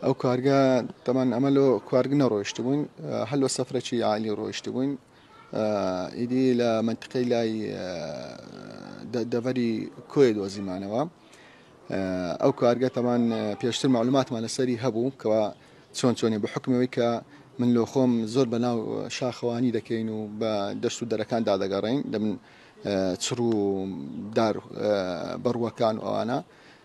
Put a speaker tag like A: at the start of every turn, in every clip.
A: ئەو کارگە تەمان ئەمە لۆ کوارگ نەڕۆیشت بووین هەر لۆ سەفرەکی عالی ڕۆیشت بووین ئیدی لە منتقەی لای دەڤەری کۆی دۆزیمانەوە ئەو کارگە تەمان پێشتر معلوماتمان لەسەری هەبوو کەوا چۆن چۆنی بە حکمەوەی کە من لۆ خۆم زۆر بە ناو شاخەوانی دەکەین و بە دەشت و دەرەکان دادەگەڕین دەبن چڕ و دار بڕوەکان ئەوانە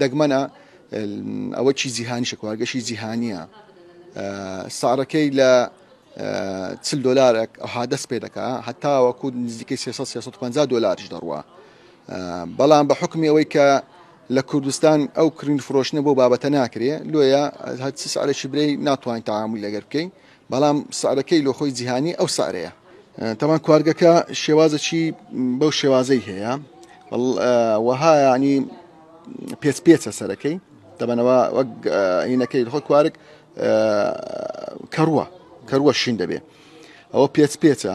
A: دەگمەنە ئەوە چی جیهانیشە کواگەشی جیهانیە ساڕەکەی لە چل دلارێک ئەها دەست پێ دەکە هەتاوەکو نزیکەی 350 دلاریش دەڕوە بەڵام بە حکمی ئەوەی کە لە کوردستان ئەو کرین فرۆشنە بۆ بابەتە ناکرێ لۆیە هەچ سعرێکی برەی ناتوانین تعامل لەگەر بکەین بەڵام سعرەکەی لۆ خۆی جیهانی ئەو سعرەیە. تەبعەن کوارگەکە شێوازەکی بەو شێوازەی هەیە وەها یعنی پێچ پێچە سەرەکەی دەبەنەوە وەک هینەکەی خۆ کوارک کەڕوە کەروە شین دەبێ ئەوە پێچ پێچە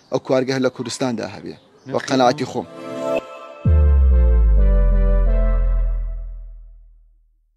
A: ئەو کوارگە هەر لە کوردستاندا هەبێ وە قەناعەتی خۆم.